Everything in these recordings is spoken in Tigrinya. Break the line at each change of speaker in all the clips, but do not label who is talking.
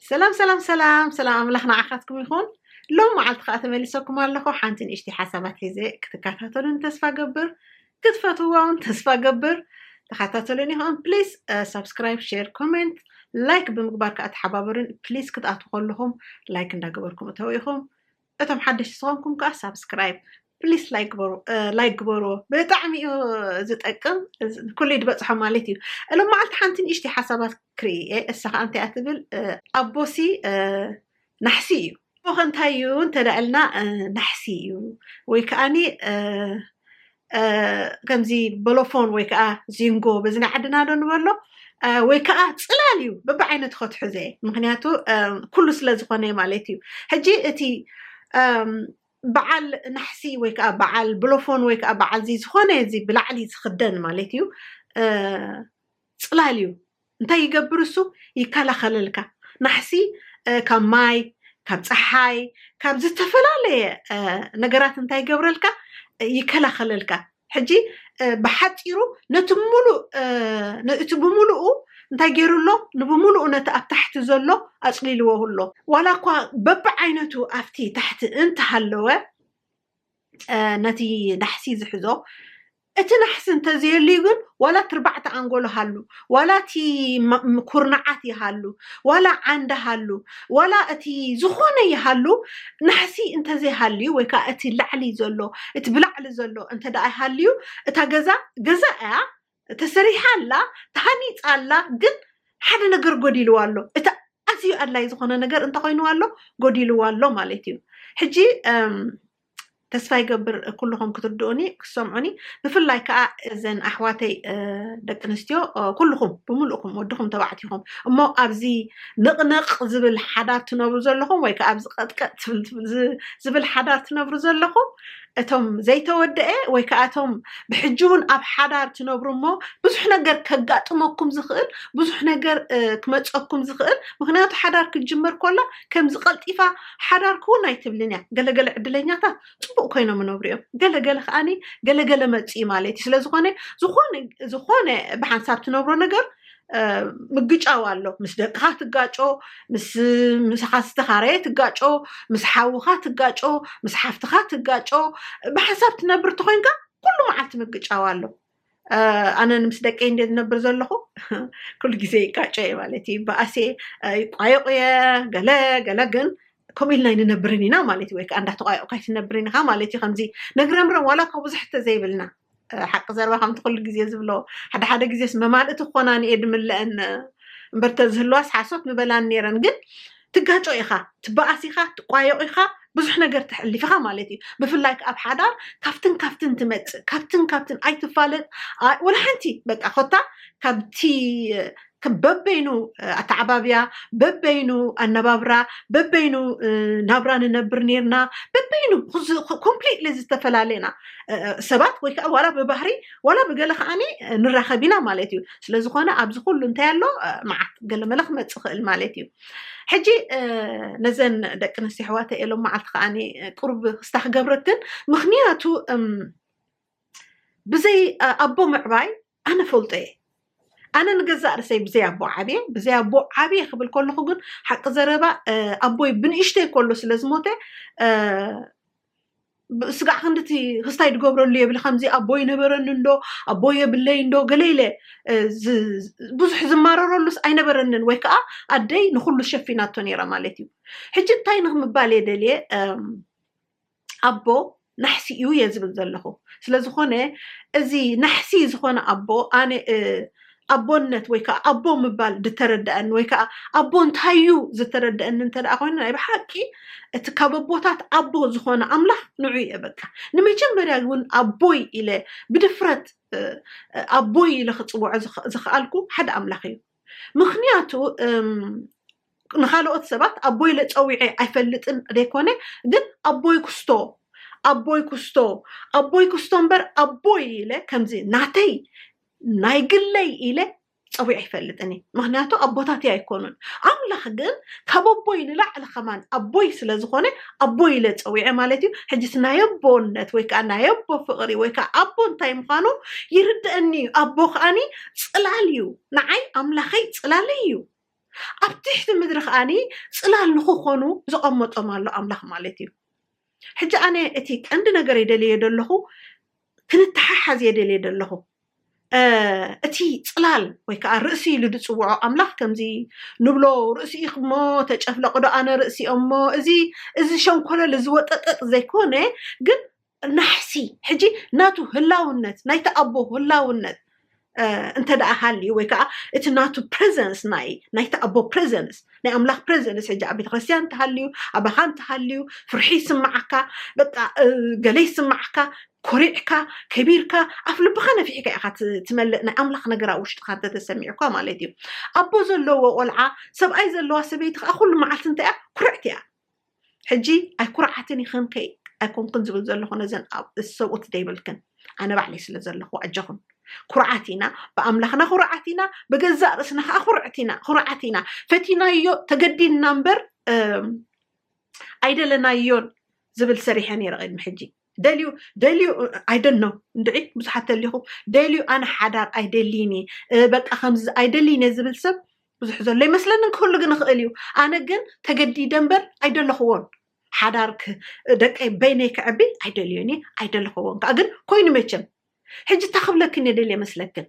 ሰላም ሰላም ሰላም ሰላም ኣምላኽ ንዓኻትኩም ይኹን ሎም መዓልቲ ከዓ ተመሊሰኩም ኣለኹ ሓንቲ ንእሽቲ ሓሳባት ሒዘ ክትከታተሉን ተስፋ ገብር ክትፈትዋ እውን ተስፋ ገብር ተኸታተሉን ይኹን ፕሊዝ ሳብስክራይብ ሼር ኮሜንት ላይክ ብምግባር ከዓ ተሓባበሩን ፕሊዝ ክትኣትዉ ከለኹም ላይክ እንዳገበርኩም እተው ኢኹም እቶም ሓደሽቲ ዝኾንኩም ከዓ ሳብስክራይብ ፕሊስ ላይክ ግበሩ ላይክ ግበርዎ ብጣዕሚ እዩ ዝጠቅም ኩሉ ድበፅሖ ማለት እዩ እሎም መዓልቲ ሓንቲ ንእሽተይ ሓሳባት ክርኢ እየ እሳ ከዓ እንታይ እያ ትብል ኣቦሲ ናሕሲ እዩ ኸ እንታይ እዩ እንተዳ ኢልና ናሕሲ እዩ ወይ ከዓኒ ከምዚ በሎፎን ወይ ከዓ ዚንጎ በዝና ዓድና ዶ ንበሎ ወይ ከዓ ፅላል እዩ በብዓይነቱ ከትሕዘ ምክንያቱ ኩሉ ስለ ዝኾነ ማለት እዩ ሕጂ እቲ በዓል ናሕሲ ወይ ከዓ በዓል ብሎፎን ወይ ከዓ በዓል ዚ ዝኾነ እዚ ብላዕሊ ዝኽደን ማለት እዩ ፅላል እዩ እንታይ ይገብር እሱ ይከላኸለልካ ናሕሲ ካብ ማይ ካብ ፀሓይ ካብ ዝተፈላለየ ነገራት እንታይ ይገብረልካ ይከላኸለልካ ሕጂ ብሓፂሩ ነቲ ሙሉእ እቲ ብምሉኡ እንታይ ገይሩ ኣሎ ንብምሉኡ ነቲ ኣብ ታሕቲ ዘሎ ኣፅሊልዎ ኣሎ ዋላ እኳ በብዓይነቱ ኣብቲ ታሕቲ እንተሃለወ ነቲ ናሕሲ ዝሕዞ እቲ ናሕሲ እንተዘየልዩ ግን ዋላ ትርባዕቲ ኣንጎሎ ሃሉ ዋላ እቲ ኩርናዓት ይሃሉ ዋላ ዓንዲ ሃሉ ዋላ እቲ ዝኾነ ይሃሉ ናሕሲ እንተዘይሃልዩ ወይ ከዓ እቲ ላዕሊ ዘሎ እቲ ብላዕሊ ዘሎ እንተ ደኣ ይሃልዩ እታ ገዛ ገዛ እያ ተሰሪሓ ኣላ ተሃኒፃ ኣላ ግን ሓደ ነገር ጎዲልዋ ኣሎ እቲ ኣዝዩ ኣድላይ ዝኾነ ነገር እንተ ኮይንዋ ኣሎ ጎዲልዋ ኣሎ ማለት እዩ ሕጂ ተስፋ ይገብር ኩልኹም ክትርድኡኒ ክሰምዑኒ ብፍላይ ከዓ እዘን ኣሕዋተይ ደቂ ኣንስትዮ ኩልኹም ብምልእኹም ወድኹም ተባዕትኹም እሞ ኣብዚ ንቕንቕ ዝብል ሓዳር ትነብሩ ዘለኹም ወይ ከዓ ኣብዚ ቀጥቀጥ ዝብል ሓዳር ትነብሩ ዘለኹም እቶም ዘይተወደኤ ወይ ከኣ እቶም ብሕጂ ውን ኣብ ሓዳር ትነብሩ እሞ ብዙሕ ነገር ከጋጥመኩም ዝኽእል ብዙሕ ነገር ክመጸኩም ዝኽእል ምክንያቱ ሓዳር ክትጅምር ኮላ ከምዚ ቀልጢፋ ሓዳር ክውን ኣይትብልን እያ ገለገለ ዕድለኛታት ጽቡቅ ኮይኖም ይነብሩ እዮም ገለገለ ከኣኒ ገለገለ መጽኢ ማለት እዩ ስለዝኾነ ዝኾነ ብሓንሳብ ትነብሮ ነገር ምግጫው ኣሎ ምስ ደቅኻ ትጋጮ ምስ ሓስተኻረየ ትጋጮ ምስ ሓውኻ ትጋጮ ምስ ሓፍትኻ ትጋጮ ብሓሳብ ትነብር ተኮይንካ ኩሉ መዓልቲ ምግጫው ኣሎ ኣነ ምስ ደቂ እንደ ዝነብር ዘለኹ ኩሉ ግዜ ይጋጮ እየ ማለት እዩ በኣሴ ይቋየቑ እየ ገለ ገለ ግን ከምኡ ኢልና ይንነብርን ኢና ማለት እዩ ወይ ከዓ እንዳተቋየቑካ ይትነብርን ኢኻ ማለት እዩ ከምዚ ነግረምረም ዋላ ካብ ብዙሕ ተዘይብልና ሓቂ ዘረባ ከምቲ ኩሉ ግዜ ዝብሎ ሓደ ሓደ ግዜስ መማልእቲ ክኾናን እየ ድምለአን እምበር ተዝህልዋስ ሓሶት ምበላን ነይረን ግን ትጋጮ ኢኻ ትበኣስ ኢኻ ትቋየቑ ኢኻ ብዙሕ ነገር ተሕልፍ ኢኻ ማለት እዩ ብፍላይ ከ ኣብ ሓዳር ካብትን ካብትን ትመፅእ ካብትን ካብትን ኣይትፋለጥ ኣይ- ወላ ሓንቲ በቃ ኮታ ካብቲ በበይኑ ኣተዓባብያ፣ በበይኑ ኣነባብራ፣ በበይኑ ናብራ ንነብር ነይርና፣ በበይኑ ኮምፕሊትሊ ዝተፈላለየና ሰባት ወይ ከዓ ዋላ ብባህሪ ዋላ ብገለ ከዓኒ ንራኸብ ኢና ማለት እዩ። ስለዝኾነ ኣብዚ ኩሉ እንታይ ኣሎ መዓት ገለመለ ክመፅእ ይኽእል ማለት እዩ። ሕጂ ነዘን ደቂ ኣንስትዮ ኣሕዋተ ኤሎም መዓልቲ ከዓ ቅሩብ ክስታ ክገብረክን ምክንያቱ ብዘይ ኣቦ ምዕባይ ኣነ እፈልጦ እየ ኣነ ንገዛእ ርእሰይ ብዘይ ኣቦ ዓብየ ብዘይ ኣቦ ዓብየ ክብል ከለኹ ግን ሓቂ ዘረባ ኣቦይ ብንእሽተይ ከሎ ስለ ዝሞተ ስጋዕ ክንድቲ ክስታይ ዝገብረሉ የብል ከምዚ ኣቦ ይነበረኒ እንዶ ኣቦ የብለይ እንዶ ገለ ኢለ ብዙሕ ዝማረረሉስ ኣይነበረንን ወይ ከዓ ኣደይ ንኩሉ ሸፊናቶ ነይራ ማለት እዩ ሕጂ እንታይ ንክምባል እየ ደልየ ኣቦ ናሕሲ እዩ እየ ዝብል ዘለኹ ስለዝኾነ እዚ ናሕሲ ዝኾነ ኣቦ ኣነ ኣቦነት ወይ ከዓ ኣቦ ምባል ዝተረድኣኒ ወይ ከዓ ኣቦ እንታይ እዩ ዝተረድኣኒ እንተ ኮይኑ ናይ ብሓቂ እቲ ካብ ኣቦታት ኣቦ ዝኾነ ኣምላኽ ንዑ እየ በቃ ንመጀመርያ እውን ኣቦይ ኢለ ብድፍረት ኣቦይ ኢለ ክፅውዖ ዝኸኣልኩ ሓደ ኣምላኽ እዩ ምኽንያቱ ንኻልኦት ሰባት ኣቦይ ኢለ ፀዊዐ ኣይፈልጥን ዘይኮነ ግን ኣቦይ ኩስቶ ኣቦይ ኩስቶ ኣቦይ ኩስቶ እምበር ኣቦይ ኢለ ከምዚ ናተይ ናይ ግለይ ኢለ ፀዊዐ ኣይፈልጥን እዩ ምክንያቱ ኣቦታት ኣይኮኑን ኣምላኽ ግን ካብ ኣቦይ ንላዕሊ ከማን ኣቦይ ስለ ዝኾነ ኣቦይ ኢለ ፀዊዐ ማለት እዩ ሕጅስ ናይ ኣቦነት ወይ ከዓ ናይ ኣቦ ፍቕሪ ወይ ከዓ ኣቦ እንታይ ምዃኑ ይርድአኒ እዩ ኣቦ ከዓኒ ፅላል እዩ ንዓይ ኣምላኸይ ጽላለይ እዩ ኣብ ትሕቲ ምድሪ ከኣኒ ጽላል ንክኾኑ ዘቐመጦም ኣሎ ኣምላኽ ማለት እዩ ሕጂ ኣነ እቲ ቀንዲ ነገር የደልየ ደለኹ ክንተሓሓዝ የደልየ ደለኹ እቲ ጽላል ወይ ከዓ ርእሲ ኢሉ ዝፅውዖ ኣምላኽ ከምዚ ንብሎ ርእሲ ኢኽሞ ተጨፍለቕዶ ኣነ ርእሲ እሞ እዚ እዚ ሸንኮለል እዚ ወጠጠጥ ዘይኮነ ግን ናሕሲ ሕጂ ናቱ ህላውነት ናይቲ ኣቦ ህላውነት እንተ ደኣ ሃልዩ ወይ ከዓ እቲ ናቱ ፕሬዘንስ ናይ ናይቲ ኣቦ ፕሬዘንስ ናይ ኣምላኽ ፕሬዘንስ ሕጂ ኣብ ቤተክርስትያን እንተሃልዩ ኣባኻ እንተሃልዩ ፍርሒ ይስምዓካ በቃ ገለ ይስምዓካ ኮሪዕካ ከቢርካ ኣፍ ልብኻ ነፊሕካ ኢኻ ትመልእ ናይ ኣምላኽ ነገር ኣብ ውሽጥኻ እንተተሰሚዑካ ማለት እዩ ኣቦ ዘለዎ ቆልዓ ሰብኣይ ዘለዋ ሰበይቲ ከዓ ኩሉ መዓልቲ እንታይ እያ ኩርዕቲ እያ ሕጂ ኣይኩርዓትን ኢኽን ከይ ኣይኮንኩን ዝብል ዘለኹ ነዘን ሰብኡት ዘይብልክን ኣነ ባዕለይ ስለ ዘለኹ ኣጀኹን ኩርዓት ኢና ብኣምላኽና ኩርዓት ኢና ብገዛእ ርእስና ከዓ ኩርዕት ኢና ኩርዓት ኢና ፈቲናዮ ተገዲድና እምበር ኣይደለናዮን ዝብል ሰሪሐ ነይረ ቅድሚ ሕጂ ደልዩ ደልዩ ኣይደን ነው እንድዒ ብዙሓት ተሊኹም ደልዩ ኣነ ሓዳር ኣይደልይን እየ በቃ ከምዚ ኣይደልይን እየ ዝብል ሰብ ብዙሕ ዘሎ ይመስለኒ ክህሉ ግን ይኽእል እዩ ኣነ ግን ተገዲደ እምበር ኣይደለኽዎን ሓዳር ክ- ደቀይ በይነይ ክዕቢ ኣይደልዮን እየ ኣይደለኽዎን ከዓ ግን ኮይኑ መቸም ሕጂ እታ ክብለክን እየ ደልየ መስለክን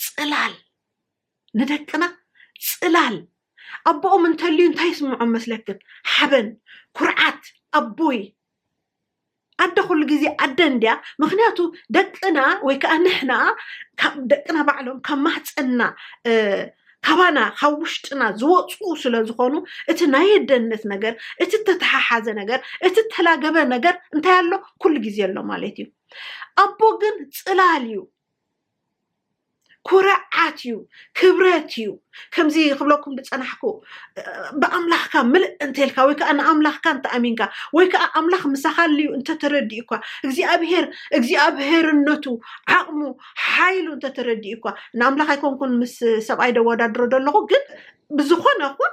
ፅላል ንደቅና ጽላል ኣቦኦም እንተልዩ እንታይ ይስምዖም መስለክን? ሓበን፣ ኩርዓት፣ ኣቦይ ኣደ ኩሉ ግዜ ኣደ እንድያ ምክንያቱ ደቅና ወይ ከዓ ንሕና ደቅና ባዕሎም ካብ ማህፀንና ካባና ካብ ውሽጥና ዝወፁ ስለ ዝኾኑ እቲ ናይ ኣደነት ነገር እቲ ተተሓሓዘ ነገር እቲ ተላገበ ነገር እንታይ ኣሎ ኩሉ ግዜ ኣሎ ማለት እዩ ኣቦ ግን ፅላል እዩ ኩርዓት እዩ ክብረት እዩ ከምዚ ክብለኩም ዝፀናሕኩ ብኣምላኽካ ምልእ እንተልካ ወይ ከዓ ንኣምላኽካ እንተኣሚንካ ወይ ከዓ ኣምላኽ ምሳኻ ኣልዩ እንተተረዲኡኳ እግዚኣብሄር እግዚኣብሄርነቱ ዓቕሙ ሓይሉ እንተተረዲኡኳ ንኣምላኽ ኣይኮንኩን ምስ ሰብኣይ ደወዳድሮ ዘለኹ ግን ብዝኾነ ኹን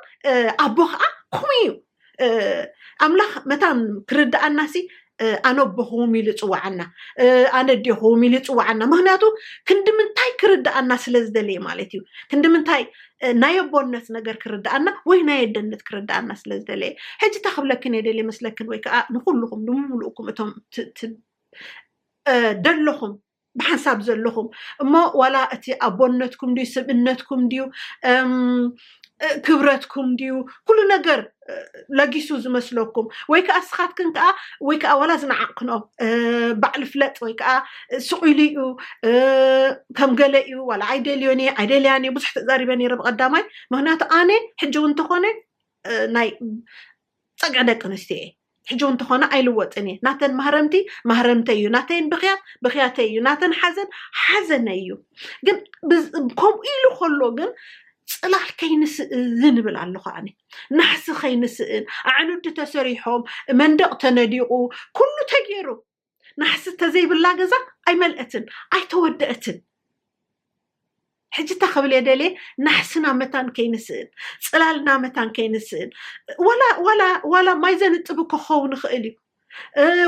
ኣቦ ከዓ ከምኡ እዩ ኣምላኽ መታን ክርድኣና ሲ ኣነ ኣቦኹም ኢሉ ይፅዋዓና ኣነ ዴኹም ኢሉ ይፅዋዓና ምክንያቱ ክንዲ ምንታይ ክርድኣና ስለ ዝደለየ ማለት እዩ ክንዲ ምንታይ ናይ ኣቦነት ነገር ክርድኣና ወይ ናይ ኣደነት ክርድኣና ስለ ዝደለየ ሕጂ እታ ክብለክን እየ ደልየ መስለክን ወይ ከዓ ንኩልኩም ንምምልእኩም እቶም ደለኹም ብሓንሳብ ዘለኹም እሞ ዋላ እቲ ኣቦነትኩም ድዩ ስብእነትኩም ድዩ ክብረትኩም ድዩ ኩሉ ነገር ለጊሱ ዝመስለኩም ወይ ከዓ ስኻትክን ከዓ ወይ ከዓ ዋላ ዝነዓቕክኖ ባዕሊ ፍለጥ ወይ ከዓ ስቑኢሉ እዩ ከም ገለ እዩ ዋላ ኣይደልዮን እየ ኣይደልያን እየ ብዙሕ ተዛሪበ ነይረ ብቐዳማይ ምክንያቱ ኣነ ሕጂ እውን እንተኾነ ናይ ፀግዒ ደቂ ኣንስትዮ እየ ሕጂ እውን ተኾነ ኣይልወጥን እየ ናተን ማህረምቲ ማህረምተይ እዩ ናተይን ብክያት ብክያተይ እዩ ናተን ሓዘን ሓዘነይ እዩ ግን ከምኡ ኢሉ ከሎ ግን ፅላል ከይንስእን ይብል ኣለኹ ኣነ ናሕሲ ከይንስእን ኣዕኑዲ ተሰሪሖም መንደቕ ተነዲቑ ኩሉ ተገይሩ ናሕሲ ተዘይብላ ገዛ ኣይመልአትን ኣይተወደአትን ሕጂ እታ ክብል እየ ደልየ ናሕስና መታን ከይንስእን ፅላልና መታን ከይንስእን ዋላ ማይ ዘንጥብ እኮ ክኸውን ይኽእል እዩ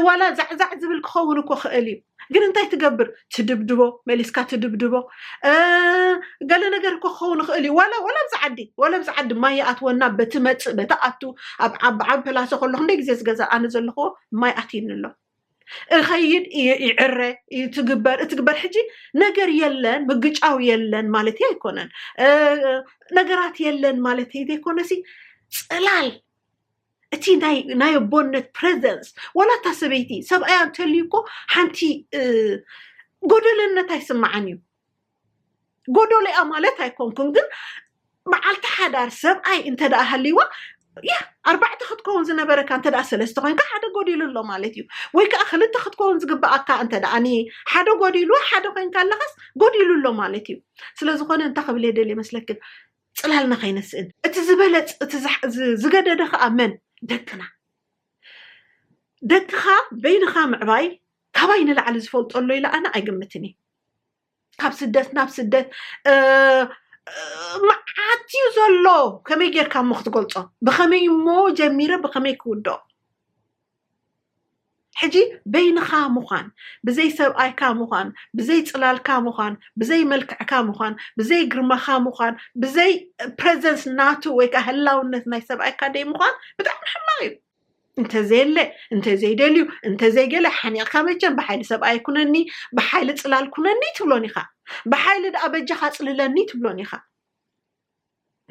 ዋላ ዛዕዛዕ ዝብል ክኸውን እኮ ክእል እዩ ግን እንታይ ትገብር ትድብድቦ መሊስካ ትድብድቦ ገለ ነገር እኮ ክኸውን ይኽእል እዩ ዋላ ዋላ ኣብዚ ዓዲ ዋላ ኣብዚ ዓዲ ማይ ይኣትወና በቲ መፅእ በቲ ኣቱ ኣብ ዓቢ ፕላሰ ከለኹ እንደ ግዜ ዝገዛ ኣነ ዘለኹዎ ማይ ኣትዩኒ ኣሎ እኸይድ ይዕረ ትግበር እትግበር ሕጂ ነገር የለን ምግጫው የለን ማለት ኣይኮነን ነገራት የለን ማለት ዘይኮነሲ ፅላል እቲ ናይ ኣቦነት ፕሬዘንስ ዋላ እታ ሰበይቲ ሰብኣያ እንተልዩ እኮ ሓንቲ ጎደለነት ኣይስማዓን እዩ ጎዶልያ ማለት ኣይኮንኩን ግን መዓልቲ ሓዳር ሰብኣይ እንተ ሃልይዋ ያ ኣርባዕተ ክትከውን ዝነበረካ እንተ ሰለስተ ኮይንካ ሓደ ጎዲሉ ኣሎ ማለት እዩ ወይ ከዓ ክልተ ክትከውን ዝግብኣካ እንተ ሓደ ጎዲሉ ሓደ ኮይንካ ኣለካስ ጎዲሉ ኣሎ ማለት እዩ ስለዝኮነ እንታይ ክብል እየ ደልየ መስለክን ፅላልና ከይነስእን እቲ ዝበለፅ እቲ ዝገደደ ከዓ መን ደቅና ደቅኻ በይንኻ ምዕባይ ካባይ ንላዕሊ ዝፈልጦ ኣሎ ኢለ ኣነ ኣይግምትን እየ ካብ ስደት ናብ ስደት መዓት እዩ ዘሎ ከመይ ጌርካ እሞ ክትገልፆ ብኸመይ እሞ ጀሚረ ብኸመይ ክውድኦ ሕጂ በይንኻ ምዃን ብዘይ ሰብኣይካ ምዃን ብዘይ ፅላልካ ምዃን ብዘይ መልክዕካ ምዃን ብዘይ ግርማኻ ምዃን ብዘይ ፕሬዘንስ ናቱ ወይ ከዓ ህላውነት ናይ ሰብኣይካ ደይ ምዃን ብጣዕሚ ሕማቕ እዩ እንተዘየለ እንተዘይደልዩ እንተዘይገለ ሓኒቕካ መቸም ብሓይሊ ሰብኣይ ኩነኒ ብሓይሊ ፅላል ኩነኒ ትብሎን ኢኻ ብሓይሊ ደኣ በጃኻ ፅልለኒ ትብሎን ኢኻ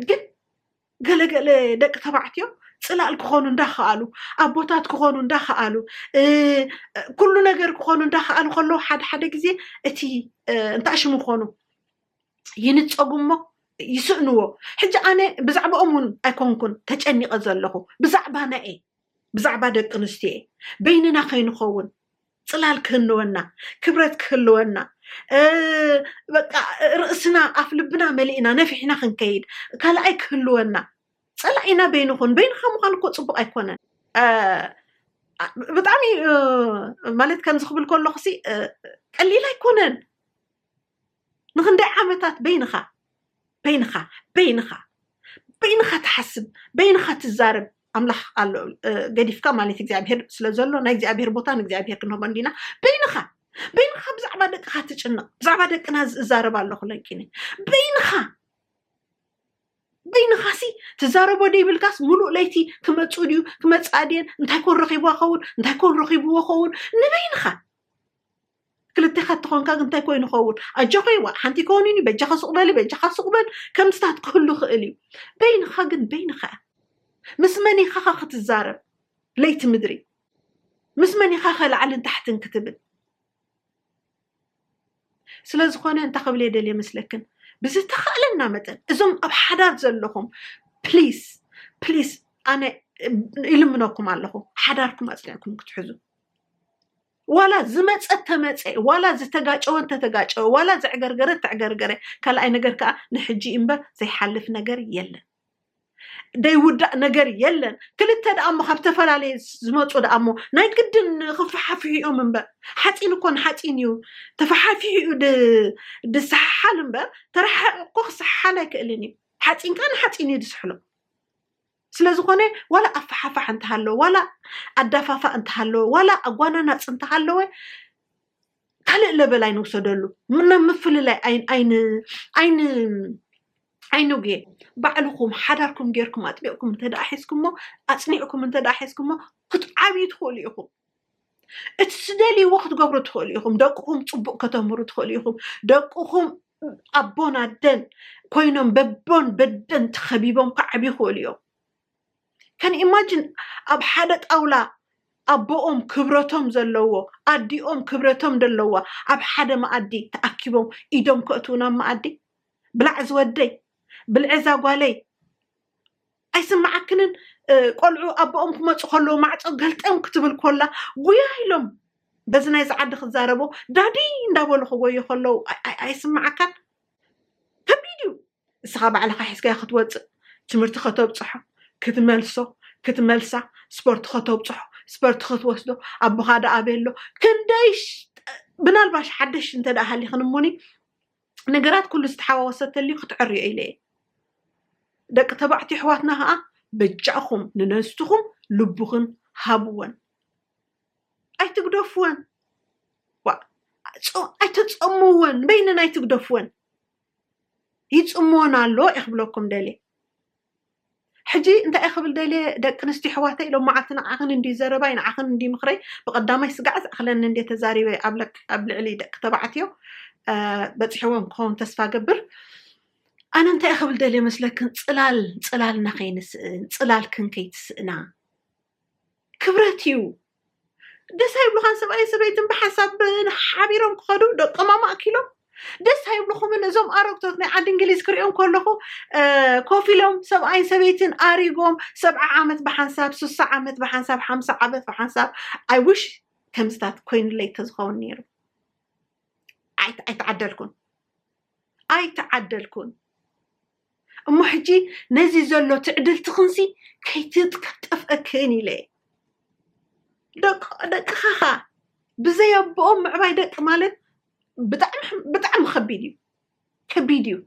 ግን ገለገለ ደቂ ተባዕትዮ ፅላል ክኾኑ እንዳኸኣሉ ኣቦታት ክኾኑ እንዳኸኣሉ ኩሉ ነገር ክኾኑ እንዳኸኣሉ ከለዉ ሓደ ሓደ ግዜ እቲ እንታይ ሽሙ ክኾኑ ይንፀጉ እሞ ይስእንዎ ሕጂ ኣነ ብዛዕባኦም እውን ኣይኮንኩን ተጨኒቐ ዘለኹ ብዛዕባና እየ ብዛዕባ ደቂ ኣንስትዮ እየ በይንና ከይንኸውን ፅላል ክህልወና ክብረት ክህልወና በቃ ርእስና ኣፍ ልብና መሊእና ነፊሕና ክንከይድ ካልኣይ ክህልወና ፀላኢና በይኑ ኹን በይንኻ ምዃን እኮ ፅቡቅ ኣይኮነን ብጣዕሚ ማለት ከምዚ ክብል ከለኹ ቀሊል ኣይኮነን ንኽንደይ ዓመታት በይንኻ በይንኻ በይንኻ በይንኻ ትሓስብ በይንኻ ትዛረብ ኣምላኽ ኣሎ ገዲፍካ ማለት እግዚኣብሄር ስለ ዘሎ ናይ እግዚኣብሄር ቦታ ንእግዚኣብሄር ክንህቦ እንዲና በይንኻ በይንኻ ብዛዕባ ደቅኻ ትጭነቕ ብዛዕባ ደቅና ዝዛረብ ኣለኹ ለንኪኒ በይንኻ በይንኻ ሲ ትዛረቦ ደይብልካስ ሙሉእ ለይቲ ክመፁ ድዩ ክመፅኣ ድየን እንታይ ኮን ረኺቦ ኸውን እንታይ ኮን ረኺብዎ ኸውን ንበይንኻ ክልቴኻ እንተኾንካ ግን እንታይ ኮይኑ ይኸውን ኣጆኺ ይዋ ሓንቲ ኣይኮኑን እዩ በጃኻ ሱቕ በሊ በጃኻ ሱቕ በል ከምስታት ክህሉ ይኽእል እዩ በይንኻ ግን በይንኻ እያ ምስ መን ኢኻ ኸ ክትዛረብ ለይቲ ምድሪ ምስ መን ኢኻ ኸ ላዕልን ታሕትን ክትብል ስለ ዝኾነ እንታይ ክብል እየ ደልየ መስለክን ብዝተኻእለና መጠን እዞም ኣብ ሓዳር ዘለኹም ፕሊስ ፕሊስ ኣነ ይልምነኩም ኣለኹ ሓዳርኩም ኣፅኒዕኩም ክትሕዙ ዋላ ዝመፀ ተመፀ ዋላ ዝተጋጨወ እንተተጋጨወ ዋላ ዘዕገርገረ ተዕገርገረ ካልኣይ ነገር ከዓ ንሕጂ እምበር ዘይሓልፍ ነገር የለን ዘይውዳእ ነገር የለን ክልተ ደኣ እሞ ካብ ዝተፈላለየ ዝመፁ ደኣ እሞ ናይ ግድን ክፈሓፍሑ እዮም እምበር ሓፂን እኮ ንሓፂን እዩ ተፈሓፊሑ እዩ ድ- ድሰሓሓል እምበር ተረሓሒቑ እኮ ክሰሓሓል ኣይክእልን እዩ ሓፂንካ ንሓፂን እዩ ዝስሕሎ ስለዝኾነ ዋላ ኣፋሓፋሕ እንተሃለወ ዋላ ኣዳፋፋእ እንተሃለወ ዋላ ኣጓናናፅ እንተሃለወ ካልእ ለበል ኣይንውሰደሉ ናብ ምፍልላይ ኣይንጉየ ባዕልኹም ሓዳርኩም ጌርኩም ኣጥቢቕኩም እንተደኣ ሒዝኩሞ ኣፅኒዕኩም እንተደኣ ሒዝኩሞ ክትዓብዩ ትኽእሉ ኢኹም እቲ ዝደልይዎ ክትገብሩ ትኽእሉ ኢኹም ደቅኹም ፅቡቅ ከተምህሩ ትኽእሉ ኢኹም ደቅኹም ኣቦን ኣደን ኮይኖም በቦን በደን ተኸቢቦም ክዓብ ይኽእሉ እዮም ከን ኢማጂን ኣብ ሓደ ጣውላ ኣቦኦም ክብረቶም ዘለዎ ኣዲኦም ክብረቶም ዘለዋ ኣብ ሓደ መኣዲ ተኣኪቦም ኢዶም ከእትውን ኣብ መኣዲ ብላዕ ዝወደይ ብልዕዛ ጓለይ ኣይስምዓክንን ቆልዑ ኣቦኦም ክመፁ ከለዉ ማዕፆ ገልጠም ክትብል ኮላ ጉያ ኢሎም በዚ ናይዚ ዓዲ ክዛረቦ ዳዲ እንዳበሉ ክጎዩ ከለዉ ኣይስምዓካን ከቢድ እዩ ንስኻ ባዕልኻ ሒዝካዮ ክትወፅእ ትምህርቲ ከተብፅሖ ክትመልሶ ክትመልሳ ስፖርት ከተብፅሖ ስፖርት ክትወስዶ ኣቦኻ ደኣ ኣበሎ ክንደይ ብናልባሽ ሓደሽ እንተ ሃሊኽን እሙኒ ነገራት ኩሉ ዝተሓዋወሰ ተልዩ ክትዕርዮ ኢለ እየ ደቂ ተባዕትዮ ኣሕዋትና ከዓ በጃኹም ንነስትኹም ልብኽን ሃብወን ኣይትግደፍወን ኣይተፀምወን በይነን ኣይትግደፍወን ይፅምወን ኣሎ እየ ክብለኩም ደልየ ሕጂ እንታይ ክብል ደልየ ደቂ ኣንስትዮ ኣሕዋተይ ሎም መዓልቲ ንዓኽን እንድዩ ዘረባይ ንዓኽን እንድዩ ምኽረይ ብቀዳማይ ስጋዕ ዝኣኽለኒ እንድየ ተዛሪበ ኣብ ልዕሊ ደቂ ተባዕትዮ በጺሕዎም ክኸውን ተስፋ ገብር ኣነ እንታይ ክብል ደልየ መስለክን ጽላል ጽላልና ከይንስእን ጽላልክን ከይትስእና ክብረት እዩ ደስ ኣይብሉኻን ሰብኣይን ሰበይትን ብሓሳብ ሓቢሮም ክኸዱ ደቆም ኣማእኪሎም ደስ ኣይብልኹምን እዞም ኣረግቶት ናይ ዓዲ እንግሊዝ ክሪኦም ከለኹ እ፣ ኮፍ ኢሎም ሰብኣይን ሰበይትን ኣሪጎም ሰብዓ ዓመት ብሓንሳብ ስሳ ዓመት ብሓንሳብ ሓምሳ ዓመት ብሓንሳብ ኣይ ዊሽ ከምዝታት ኮይኑለይ ተዝኸውን ነይሩ ኣይት- ኣይተዓደልኩን ኣይተዓደልኩን እሞ ሕጂ ነዚ ዘሎ ትዕድልትኽንሲ ከይትጠፍእክን ኢለ እየ። ደቅኻ ኸኣ ብዘይ ኣቦኦም ምዕባይ ደቂ ማለት ብጣዕሚ ከቢድ እዩ ከቢድ እዩ።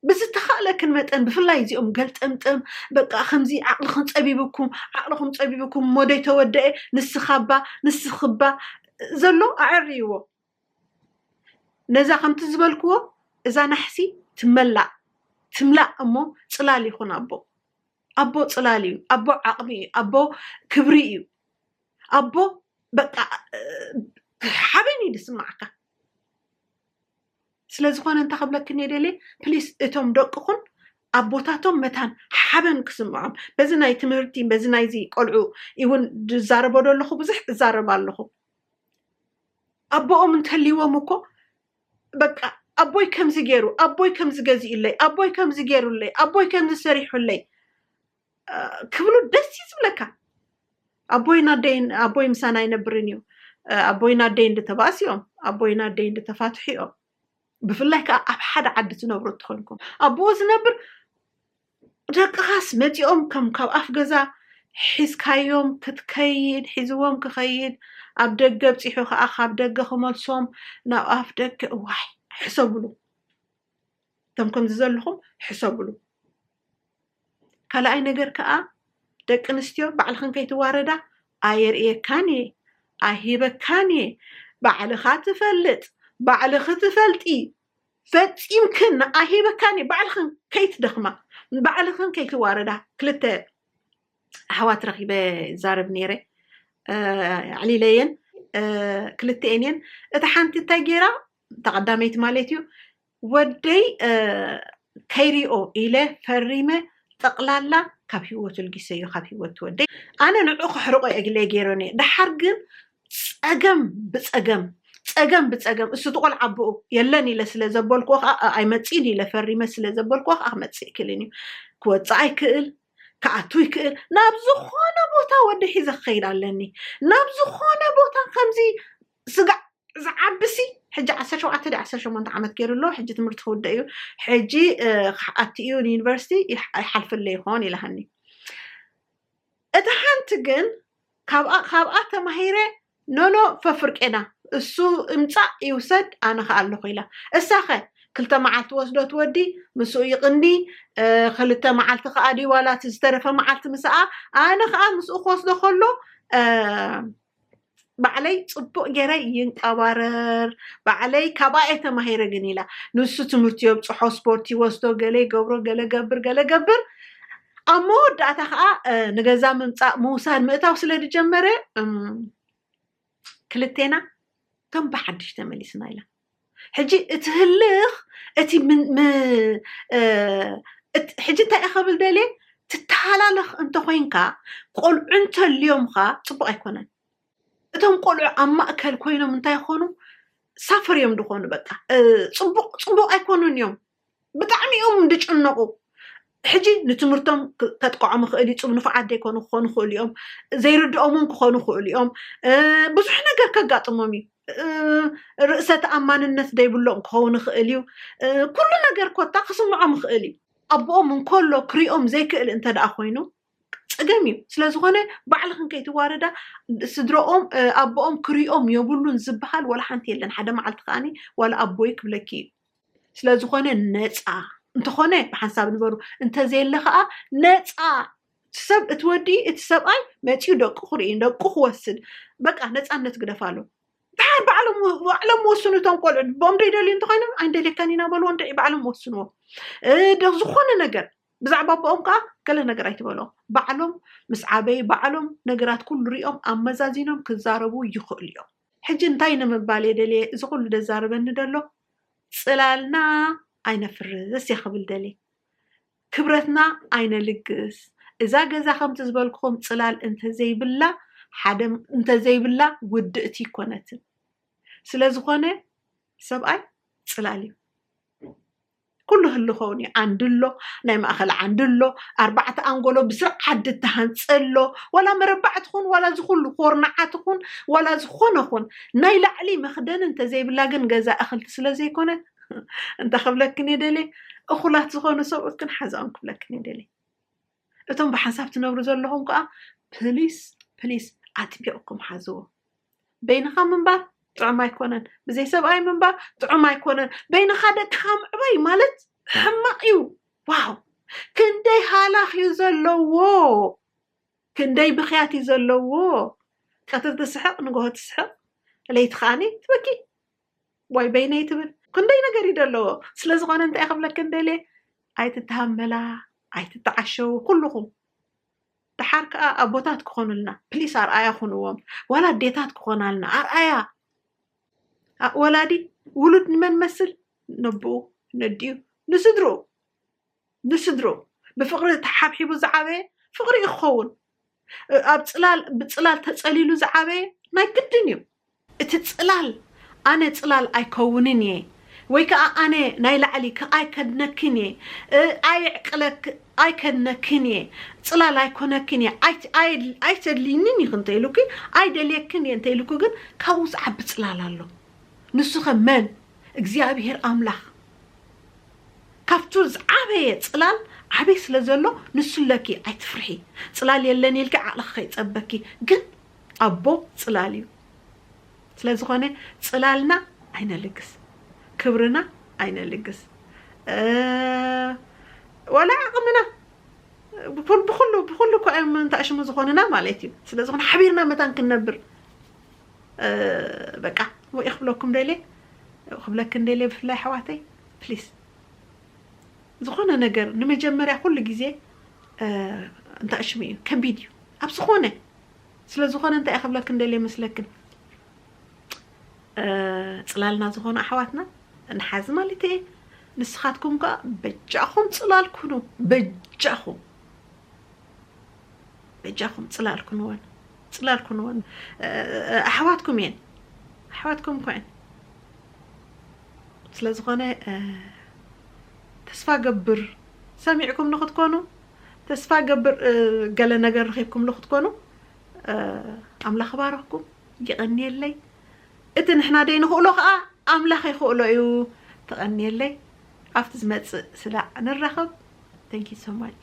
ብዝተኻእለክን መጠን ብፍላይ እዚኦም ገልጠምጠም በቃ ከምዚ ዓቕልኽን ፀቢቡኩም ዓቕልኹም ፀቢቡኩም እሞ ደይተወደኤ ንስኻባ ንስኽባ ዘሎ ኣዐርይዎ። ነዛ ከምቲ ዝበልክዎ እዛ ናሕሲ ትመላእ ትምላእ እሞ ፅላል ይኹን ኣቦ ኣቦ ፅላል እዩ ኣቦ ዓቕሚ እዩ ኣቦ ክብሪ እዩ ኣቦ በቃ ሓበን እዩ ዝስማዓካ ስለዝኾነ እንታይ ክብለኪ ደልየ ፕሊስ እቶም ደቅኹን ኣቦታቶም መታን ሓበን ክስምዖም በዚ ናይ ትምህርቲ በዚ ናይዚ ቆልዑ እውን ዝዛረቦ ዶ ኣለኹ ብዙሕ እዛረብ ኣለኹ ኣቦኦም እንተልይዎም እኮ በቃ ኣቦይ ከምዚ ገይሩ ኣቦይ ከምዚ ገዚኡለይ ኣቦይ ከምዚ ገይሩለይ ኣቦይ ከምዚ ሰሪሑለይ ክብሉ ደስ እዩ ዝብለካ ኣቦይን ኣደይን ኣቦይ ምሳና ኣይነብርን እዩ ኣቦይን ኣደይን ድተባእስ እዮም ኣቦይን ኣደይን ድተፋትሑ እዮም ብፍላይ ከዓ ኣብ ሓደ ዓዲ ትነብሩ እትኮንኩም ኣቦ ዝነብር ደቅኻስ መጺኦም ከም ካብ ኣፍ ገዛ ሒዝካዮም ክትከይድ ሒዝዎም ክኸይድ ኣብ ደገ ኣብጺሑ ከኣ ካብ ደገ ክመልሶም ናብ ኣፍ ደገ እዋይ ሕሰብሉ እቶም ከምዚ ዘለኹም ሕሰብሉ ካልኣይ ነገር ከኣ ደቂ ኣንስትዮ ባዕልኽን ከይትዋረዳ ኣየርእየካን እየ ኣይሂበካን እየ ባዕልኻ ትፈልጥ ባዕልኺ ትፈልጢ ፈጺምክን ንኣሂበካን እዩ ባዕልኽን ከይትደኽማ ባዕልኽን ከይትዋረዳ ክልተ ኣሕዋት ረኺበ ይዛረብ ነይረ ኣዕሊለየን ክልተኤን እየን እታ ሓንቲ እንታይ ገይራ ተቐዳመይቲ ማለት እዩ ወደይ ከይሪኦ ኢለ ፈሪመ ጠቅላላ ካብ ሂወቱ ልጊሰዮ ካብ ሂወት ወደይ ኣነ ንዑ ከሕርቆ እግለ ገይረ ነየ ደሓር ግን ፀገም ብፀገም ፀገም ብፀገም እሱ ትቆል ዓብኡ የለን ኢለ ስለ ዘበልክዎ ከዓ ኣይመፅእን ኢለ ፈሪመ ስለ ዘበልክዎ ከዓ ክመፅእ ይክልን እዩ ክወፅእ ኣይክእል ክኣቱ ይክእል ናብ ዝኾነ ቦታ ወዲ ሒዘ ክኸይድ ኣለኒ ናብ ዝኾነ ቦታ ከምዚ ስጋዕ ዝዓቢ ሲ ሕጂ ዓሰርተ ሸውዓተ ድዩ ዓሰርተ ሸሞንተ ዓመት ገይሩ ኣሎ ሕጂ ትምህርቲ ክውድእ እዩ ሕጂ ክኣቱ እዩ ንዩኒቨርሲቲ ይሓልፈለ ይኾን ኢላሃኒ እቲ ሓንቲ ግን ካብኣ ካብኣ ተማሂረ ኖኖ ፈፍርቄና እሱ እምፃእ ይውሰድ ኣነ ከ ኣለኹ ኢላ እሳኸ ክልተ መዓልቲ ወስዶ ትወዲ ምስኡ ይቕኒ ክልተ መዓልቲ ከዓ ድዩ ዋላ እቲ ዝተረፈ መዓልቲ ምስኣ ኣነ ከዓ ምስኡ ክወስዶ ከሎ ባዕለይ ፅቡቅ ገይረ ይንቀባረር ባዕለይ ካባኣ እየ ተማሂረ ግን ኢላ ንሱ ትምህርቲ የብፅሖ ስፖርት ይወስዶ ገለ ይገብሮ ገለ ገብር ገለ ገብር ኣብ መወዳእታ ከዓ እ፣ ንገዛ ምምፃእ ምውሳድ ምእታው ስለ ዝጀመረ እም፣ ክልቴና ከም ብሓድሽ ተመሊስና ኢላ ሕጂ እቲ ህልኽ እቲ ሕጂ እንታይ እየ ከብል ደልየ ትተሃላለኽ እንተኮይንካ ቆልዑ እንተልዮምካ ፅቡቅ ኣይኮነን እቶም ቆልዑ ኣብ ማእከል ኮይኖም እንታይ ይኮኑ ሳፈር እዮም ድኮኑ በቃ ፅቡቅ ፅቡቅ ኣይኮኑን እዮም ብጣዕሚ እዮም ዝጭነቑ ሕጂ ንትምህርቶም ከጥቅዖም ይኽእል እዩ ፅብ ንፉዓት ዘይኮኑ ክኾኑ ይኽእሉ እዮም ዘይርድኦም እውን ክኾኑ ይኽእሉ እዮም ብዙሕ ነገር ከጋጥሞም እዩ ርእሰ ተኣማንነት ዘይብሎም ክኸውን ይኽእል እዩ ኩሉ ነገር ኮታ ክስምዖም ይኽእል እዩ ኣቦኦም እንከሎ ክሪኦም ዘይክእል እንተ ደኣ ኮይኑ ፀገም እዩ ስለዝኾነ ባዕልኽን ከይትዋረዳ ስድረኦም ኣቦኦም ክሪኦም የብሉን ዝበሃል ዋላ ሓንቲ የለን ሓደ መዓልቲ ከዓኒ ዋላ ኣቦይ ክብለኪ እዩ ስለዝኾነ ነፃ እንተኾነ ብሓንሳብ ንበሩ እንተዘየለ ከዓ ነፃ ሰብ እቲ ወዲ እቲ ሰብኣይ መፂኡ ደቁ ክርኢ ደቁ ክወስድ በቃ ነፃነት ግደፋሉ ብሓር ባዕሎም ባዕሎም ወስኑ እቶም ቆልዑ ቦም ደይደልዩ እንተኮይኖም ኣይንደልየካን ኢና በልዎ እንድዒ ባዕሎም ወስንዎ እ፣ ደ- ዝኾነ ነገር ብዛዕባ ኣቦኦም ከኣ ገለ ነገር ኣይትበሎም። ባዕሎም ምስ ዓበዩ ባዕሎም ነገራት ኩሉ ሪኦም ኣመዛዚኖም ክዛረቡ ይኽእሉ እዮም። ሕጂ እንታይ ንምባል እየ ደልየ እዚ ኩሉ ደዛርበኒ ደሎ ጽላልና ኣይነፍርስ እየ ክብል ደልየ። ክብረትና ኣይነልግስ። እዛ ገዛ ከምቲ ዝበልኩኹም ጽላል እንተዘይብላ ሓደ እንተዘይብላ ውድእቲ ኣይኮነትን። ስለዝኾነ ሰብኣይ ጽላል እዩ። ኩሉ ህልኾውን እዩ ዓንዲ ኣሎ ናይ ማእኸል ዓንዲ ኣሎ ኣርባዕተ ኣንጎሎ ብስርዓት ድተሃንፀ ኣሎ ዋላ መረባዕ ትኹን ዋላ ዝኹሉ ኮርናዓ ትኹን ዋላ ዝኾነ ኹን ናይ ላዕሊ መኽደን እንተዘይብላ ግን ገዛ እኽልቲ ስለ ዘይኮነት እንታይ ክብለክን እየ ደልየ እኹላት ዝኾኑ ሰብኡት ግን ሓዛኦም ክብለክን እየ ደልየ እቶም ብሓንሳብ ትነብሩ ዘለኹም ከኣ ፕሊስ ፕሊስ ኣጥቢቕኩም ሓዝዎ። በይንኻ ምንባር ጥዑም ኣይኮነን፣ ብዘይ ሰብኣይ ምንባር ጥዑም ኣይኮነን፣ በይንኻ ደቅኻ ምዕባይ ማለት ሕማቕ እዩ። ዋው ክንደይ ሃላኽ እዩ ዘለዎ፣ ክንደይ ብኽያት እዩ ዘለዎ። ቀትሪ ትስሕቕ ንግሆ ትስሕቕ ለይቲ ከዓኒ ትበኪ ዋይ በይነይ ትብል ክንደይ ነገር እዩ ደለዎ ስለዝኾነ እንታይ ክብለክን ደልየ ኣይትተሃመላ ኣይትተዓሸው ኩልኹም ድሓር ከዓ ኣቦታት ክኾኑልና ፕሊስ ኣርኣያ ኩንዎም ዋላ ኣዴታት ክኾናልና ኣርኣያ ወላዲ ውሉድ ንመን መስል ነብኡ ነዲኡ ንስድርኡ ንስድርኡ ብፍቕሪ ተሓብሒቡ ዝዓበየ ፍቕሪ እዩ ክኸውን። ኣብ ጽላል ብጽላል ተጸሊሉ ዝዓበየ ናይ ግድን እዩ። እቲ ጽላል ኣነ ጽላል ኣይከውንን እየ ወይ ከኣ ኣነ ናይ ላዕሊ ከ ኣይከድነክን እየ ኣየዕቅለክ ኣይከድነክን እየ ጽላል ኣይኮነክን እየ ኣይተድልይንን ኢኺ እንተ ኢሉኪ ኣይደልየክን እየ እንተ ኢሉኪ ግን ካብኡ ዝዓቢ ጽላል ኣሎ ንሱኸ መን እግዚኣብሄር ኣምላኽ ካብቱ ዝዓበየ ጽላል ዓብይ ስለ ዘሎ ንሱ ለኪ ኣይትፍርሒ ጽላል የለን ኢልኪ ዓቅልኪ ከይጸበኪ ግን ኣቦ ጽላል እዩ ስለ ዝኮነ ጽላልና ኣይነልግስ ክብርና ኣይነልግስ ዋላ ዓቅምና ብኩሉ ብኩሉ እኮ እዮም እንታሽሙ ዝኮንና ማለት እዩ ስለ ዝኮነ ሓቢርና መታን ክንነብር በቃ ወኢ ክብለኩም ደልየ ክብለክን ደልየ ብፍላይ ኣሕዋተይ ፕሊስ ዝኾነ ነገር ንመጀመርያ ኩሉ ግዜ እንታሽሙ እዩ ከቢድ እዩ ኣብ ዝኾነ ስለ ዝኾነ እንታይ ክብለክን ደልየ መስለክን ፅላልና ዝኾኑ ኣሕዋትና ንሓዚ ማለት እየ ንስኻትኩም ከዓ በጃኹም ፅላል ኩኑ በጃኹም በጃኹም ፅላል ኩንወን ጽላል ኩንወን ኣሕዋትኩም እየን ኣሕዋትኩም ኮን ስለ ዝኾነ ተስፋ ገብር ሰሚዕኩም ንክትኮኑ ተስፋ ገብር ገለ ነገር ረኺብኩም ንክትኮኑ ኣምላኽ ባረኽኩም ይቐንየለይ እቲ ንሕና ደይ ንኽእሎ ከዓ ኣምላኽ ይኽእሎ እዩ ተቐንየለይ ኣብቲ ዝመፅእ ስላዕ ንራኸብ ተንኪ ሶማች